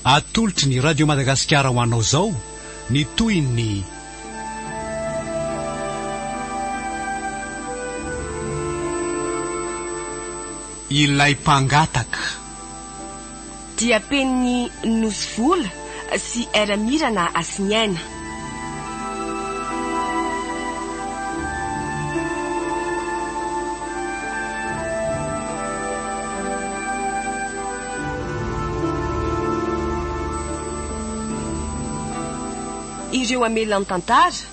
Atolotry ny Radio Madagasikara ho anao izao ny tohin'ny. Ilay mpangataka. dia penin'i Nosy Vola sy Ramirana Hasiniaina. Ireo amelan-tantara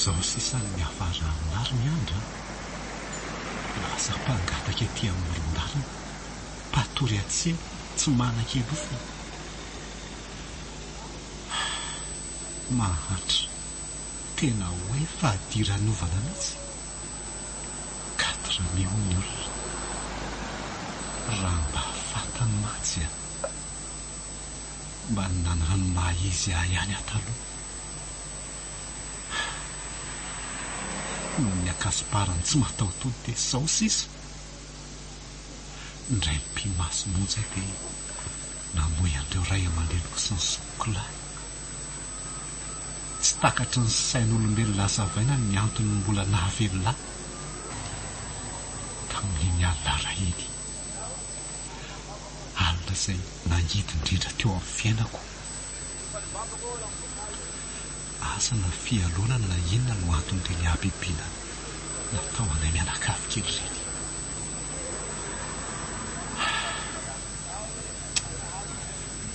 Zao sisa no miafara amar ny andra an! Lasa mpangataka ety amoron-dalana, mpatory hatse tsy manan-kelofona. Mahantra, tena hoe fadiranovana mihitsy. Quatre mai hoy ny olona. Raha mba fantany mantsy an! Mba ny nanano maha izy ahy ihany aho taloha ah! Noho ny akasiparany tsy mataho-tody dia izao sisa indray mipi-maso monja dia namoy an'ireo ray aman-dreniko sy ny zokiko lahy. Tsy takatry ny sain'olombelona hazavaina ny antony mbola nahavelona ahy tamin'iny alina raha iny. alina izay nangidy indrindra teo amin'ny fiainako. Asa na fialonana na inona no anton'ireny habibiana natao anay mianakavy kely ireny.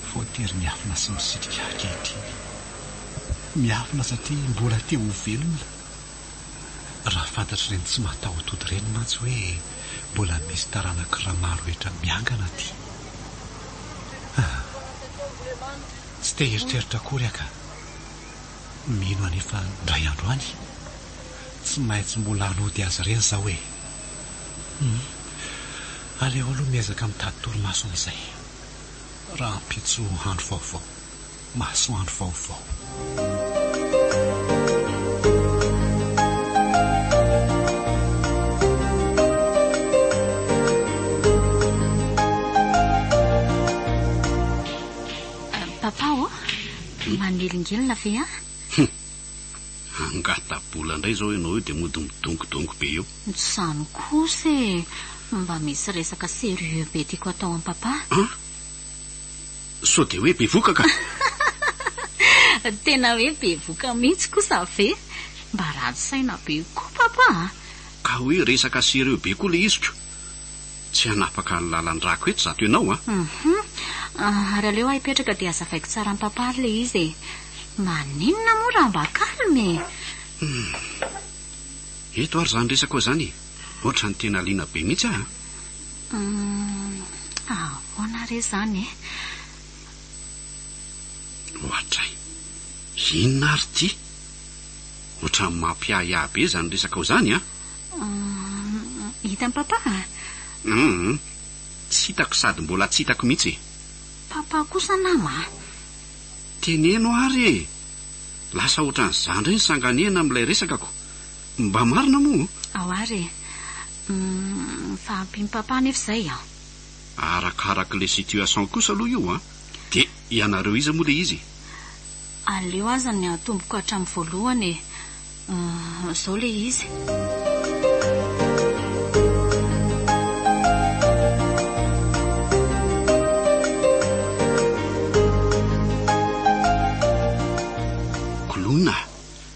Voatery miafina sy misitrika ankehitriny. Miafina satria mbola te ho velona. Raha fantatr'ireny tsy mataho-tody ireny mantsy hoe mbola misy taranak'i Ramaroetra miangana aty. Ah! Tsy te hieritreritra akory aho ka. Mino anefa indray andro any, tsy maintsy mbola hanody azy ireny izaho e! Hum! Aleo aloha miezaka mitady torimaso amin'izay, rahampitso andro vaovao. Masoandro vaovao. Papa ô, manelingelina ve an? Angata-bola indray izao ianao io dia mody midongodongo be eo. Tsy izany kosa e, mba misy resaka sérieux be tiako atao amin'i Papa. An? Sao dia hoe bevoka ka! Tena hoe bevoka mihitsy kosa ve? Mba ratsy saina be koa Papa a! Ka hoe resaka sérieux be koa le izy ko! Tsy hanapaka ny lalan-drako eto zato ianao a! Hum! Ary aleo aho hipetraka dia hazavaiko tsara amin'i Papa ary le izy e! Maninona moa raha mba calme e! Hum! Eto ary izany resakao izany e! Ohatran'ny tena liana be mihitsy aho a! Humm ahoana re zany e? Ohatray. Inona ary ity? Ohatran'ny mampiahiahy be izany resakao izany an! Humm hitan'i Papa a? Humm tsy hitako sady mbola tsy hitako mihitsy e! Papa kosa nama a! Teneno ary e! Lasa ohatran'izany indray ny sanganehana amin'ilay resakako. Mba marina moa? Ao ary e! Umm fa ampy papa nefa izay an. Arakaraka le situation kosa aloha io an! De ianareo iza moa le izy? Aleo azany atomboko hatramin'ny voalohany e! Umm zao le izy.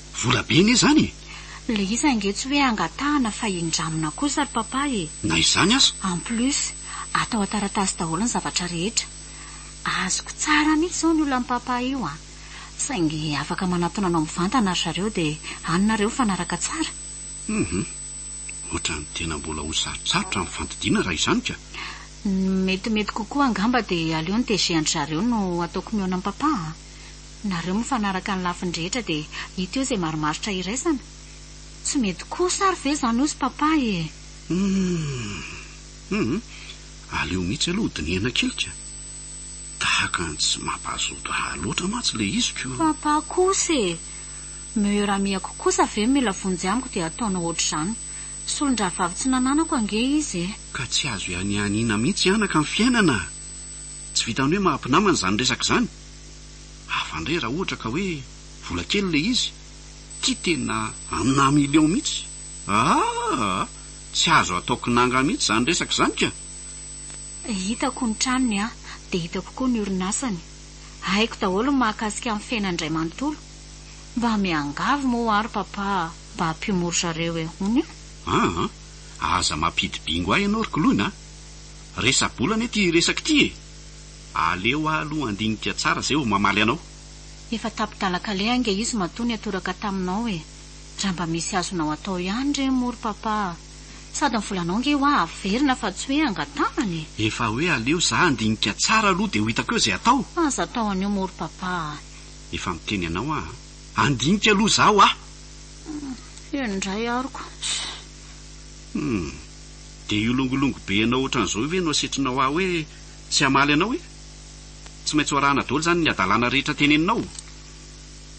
Vola be anie zany e! Le izy ange tsy hoe angatahana fa indramina kosa ry papa e! Na izany aza! En plus, atao an-taratasy daholo ny zavatra rehetra. Azoko tsara mihitsy izao ny olan'i papa io an! Saingy afaka manatona anao mivantana ry zareo dia any nareo mifanaraka tsara. Humm! Ohatran'ny tena mbola ho sarotrarotra ny fandidiana raha izany ka! Ny metimety kokoa angamba dia aleo ny DG an-dry zareo no ataoko mihaona an'i papa an! Nareo mifanaraka ny lafiny rehetra dia hita eo izay marimaritra iraisana. Tsy mety kosa ary ve izany hozy Papa e! Humm! Aleo mihitsy aloha hodinihana kely ka! Tahaka ny tsy mampahazoto ahy loatra mantsy ilay izy ko! Papa kosa e! Meilleur amie-ko kosa ve mila vonjy amiko dia ataonao ohatr'izany? Solon-drahavavy tsy nananako ange izy e! Ka tsy azo ianianiana mihitsy anaka ny fiainana! Tsy vitan'ny hoe maha mpinamana izany resaka izany. Hafa indray raha ohatra ka hoe vola kely ilay izy. Ity tena un million mihitsy. Aahh! Tsy azo atao kinanga mihitsy izany resaka izany ka! Hitako ny tranony an, dia hitako koa ny orinasany. Haiko daholo ny mahakasika ny fiainany indray manontolo. Mba miangavy moa ary papa mba ampio mory zareo e! Hono io. Aa! Aza mampidi-bingo ahy ianao ry Koloina a! Resa-bola anie ty resaka ity e! Aleo aho aloha handinika tsara zay vao mamaly anao. Efa tapi-dalan-kaleha ange izy matoa niatoraka taminao e! Raha mba misy azonao atao ihany re moa ry Papa a! Sady ny volanao ange hoa averina fa tsy hoe angatanana e! Efa hoe aleo za handinika tsara aloha dia ho hitako eo izay atao! Aza atao an'io moa ry Papa a! Efa miteny anao aho a! Handinika aloha za hoa! Hum, eny indray aroko. Hum. Dia io longolongo be anao ohatran'izao io ve no asetrinao ahy hoe tsy hamaly anao e? Tsy maintsy ho arahana daholo izany ny hadalana rehetra teneninao o!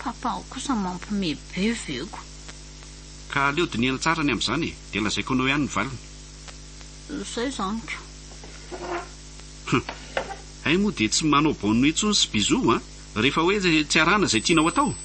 Papanao kosa mampime be ve ko! Ka aleo dinihana tsara ny amin'izany e! Dia lazaiko anao ihany ny valiny. Izay izany ko! Hum! Hay moa dia tsy manao bonne nuit intsony sy bisous an! Rehefa hoe tsy arahana izay tianao atao!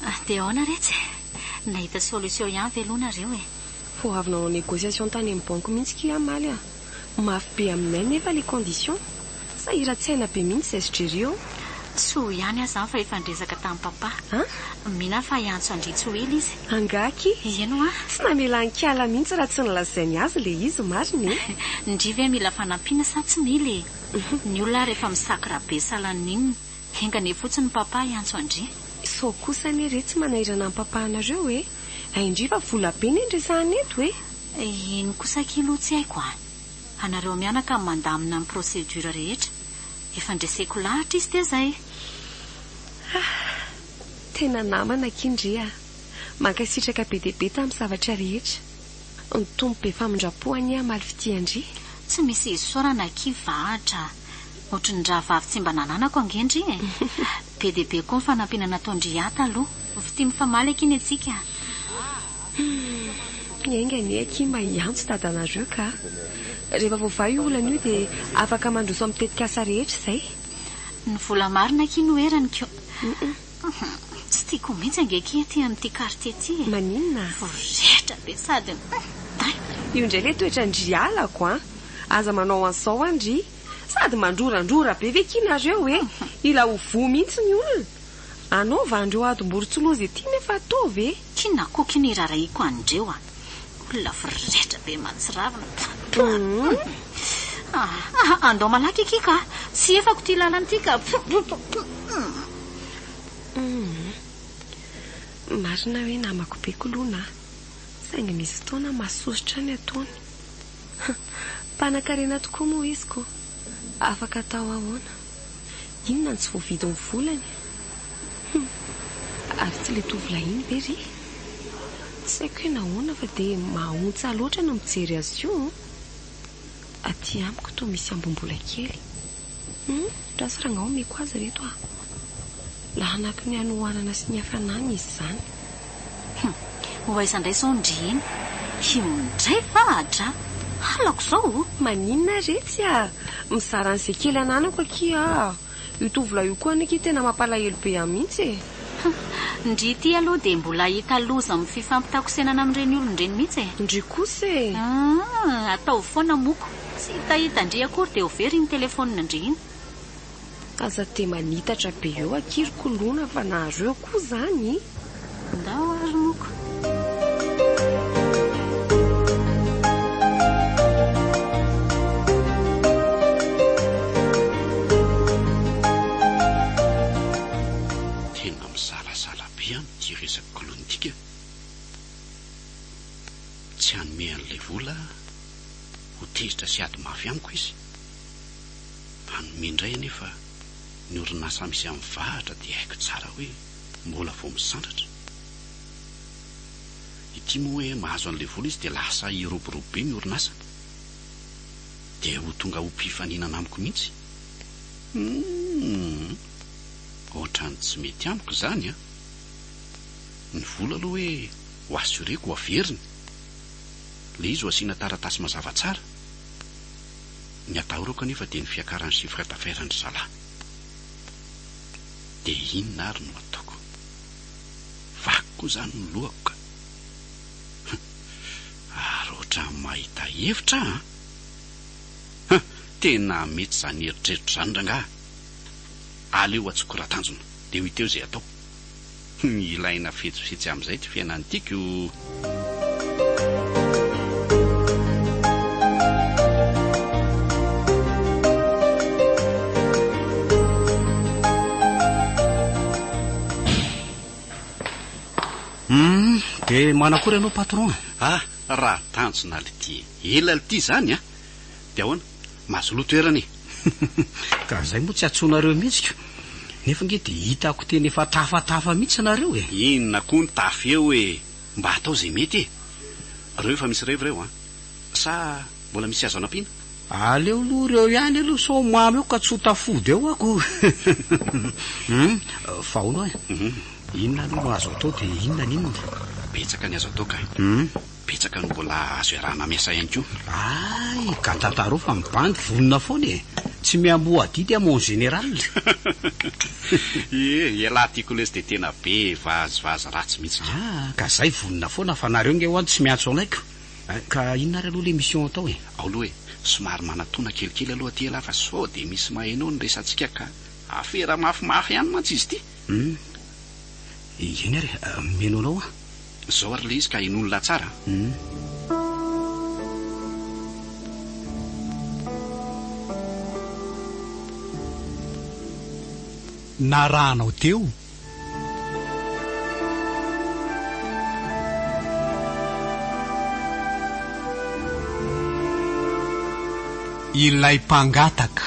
Ah de aona re tsy nahita solution ihany ve lo nareo e. Vao avy nanao négociation tany amin'ny banque mihitsy ki ah maly ah. Mafy be aminay nefa le condition. Sahiran-tsaina be mihitsy zay sdrery eo. Soa ihany aza fa efa niresaka tamin'i papa. An? Mino aho fa hiantso an-dry tsy ho ela izy. Angaha ki. Ieny hoa. Tsy namela an-kiala mihitsy raha tsy nolazainy azy le izy marina e. Ndry ve mila fanampiana sa tsy mila e. Ny olona ary efa misakra be salan'ny inona. Enga anie fotsiny Papa hiantso an-dry. Sao kosa anie re tsy manahirana an'i Papa anareo e! Ain-dry fa vola be ne ny resahana eto e! Ino kosa akia loha tsy haiko a! Anareo mianaka no mandamina ny procédure rehetra. Efa ndreseko lahatra izy dia zay. Ahh! Tena namana akia ndry a! Mankasitraka be dia be tamin'ny zavatra rehetra. Ny Tompo be famindrampo anie hamaly fitia an-dry. Tsy misy isaorana akia va Atra a! Ohatry ny rahavavy tsy mba nananako ange ndry e! Be dia be koa ny fanampiana nataon-dry ahy taloha. Fitia mifamaly akia ny antsika a! Enga anie akia mba hiantso dadanareo ka! Rehefa voavaha io olana io dia afaka mandroso amin'ny tetikasa rehetra izay. Ny vola marina akia no erany ko! Humm tsy tiako mihitsy ange ki aty amin'ity quartier ity e! Maninona a? Vorehitra be sady humm day! Io indray ilay toetran-dry halako an! Aza manao an'izao an ry! Sady mandrorandrora be ve ki nareo e! Mila ho voa mihitsy ny olona! Anaovan'ireo adim-boro tsy loza ity nefa ataovy e! Ki nakoky ny irarahiako an'ireo a! Olona voretra be mantsiravina Pfff Pfff Andao malaky akia ka Tsy efako ty lalana ity ka Pfff Marina hoe namako be kolona a Saingy misy fotoana masosotra ny ataony Mpanan-karena tokoa moa izy ko Afaka atao ahoana. Inona no tsy voavidy ny volany? Hum. Ary tsy le tovolahy iny ve ry? Tsy haiko hoe nahoana fa dia mahaontsa loatra ny mijery azy io an! Aty amiko toa misy ambom-bola kely. Hum, ra sara angaha omeko azy reto ah. Lahanaky ny hanohanana sy ny hafanana izy izany. Hum! Ho aiza indray izao ny ndry iny? Hum! Ndray va adra? Halako izao o! Maninona ary etsy a! Mizara an'izay kely ananako akia aa! Io tovolahy io koa anie akia tena mampalahelo be ahy mihitsy e! Hum! Ndry ity aloha dia mbola hahita loza amin'ny fifampitakosenana amin'ireny olona ireny mihitsy e! Ndry kosa e! Hum! Ataovy foana moko! Tsy hitahita ndry akory dia ho very iny telefonina ndry iny! Aza te manitatra be eo akia ry kolona fa nareo koa zany e! Ndao ary noko. Tena mizarazara be an ity resaka kolona ity ka! Tsy hanome an'ilay vola ho tezitra sy ady mafy amiko izy. hanome indray anefa ny orinasa misy amin'ny vahatra dia haiko tsara hoe mbola vao misandratra ity moa hoe mahazo an'ilay vola izy dia lasa hiroborobo be ny orinasany dia ho tonga ho mpifaninana amiko mihitsy humm ohatran'ny tsy mety amiko izany an! ny vola aloha hoe ho assureko ho averiny ilay izy ho asiana taratasy mazava tsara Ny atahorako anefa dia ny fiakaran'ny chiffre d'affaires an-dry zalahy. Dia inona ary no ataoko? Vaky koa izany ny lohako ka. Humm! Ary ohatran'ny mahita hevitra aho an! Humm! Tena mety izany eritreritro izany rangahy a! Aleo atsoiko raha tanjona, dia ho hita eo izay atao. Humm ilaina fetsifetsy amizay ty fiainany ty ko. Humm de manakory anao patron a. Ah raha tanjona lty ela lty zany a. De ahoana? Mazoloha toerana e! Ka izay moa tsy antsoinareo mihitsy ko! Nefa nge dia hitako teny efa tafatafa mihitsy ianareo e! Inona koa ny tafy eo e! Mba atao izay mety e! Reo efa misy revy reo an! Sa mbola misy azo anampiana? Aleo aloha reo ihany aloha sao mamo eo ka tsy ho tafody eo ako! Hum! Fa hono e! Inona aloha no azo atao dia inona ny inona? Betsaka ny azo atao ka! Hum! Betsaka no mbola azo iarahana miasa ihany koa. Hay ka tantaro fa ny bandy vonona foana e! Tsy miamboho adidy à mon général. Ie, ialahy tiako lesy dia tena be vazivazy ratsy mihitsy ka. Ah, ka zay vonona foana fa nareo nge hoan tsy miantso anay ko. Ka inona ary aloha le mission atao e? Ao aloha e, somary manatona kelikely aloha aty ialahy fa sao dia misy maheno ny resatsika ka. Afera mafimafy ihany mantsy izy ity. Hum, eny ary, miheno anao aho. Zao ary le izy ka henoiny la tsara an. Narahanao teo. Ilay mpangataka.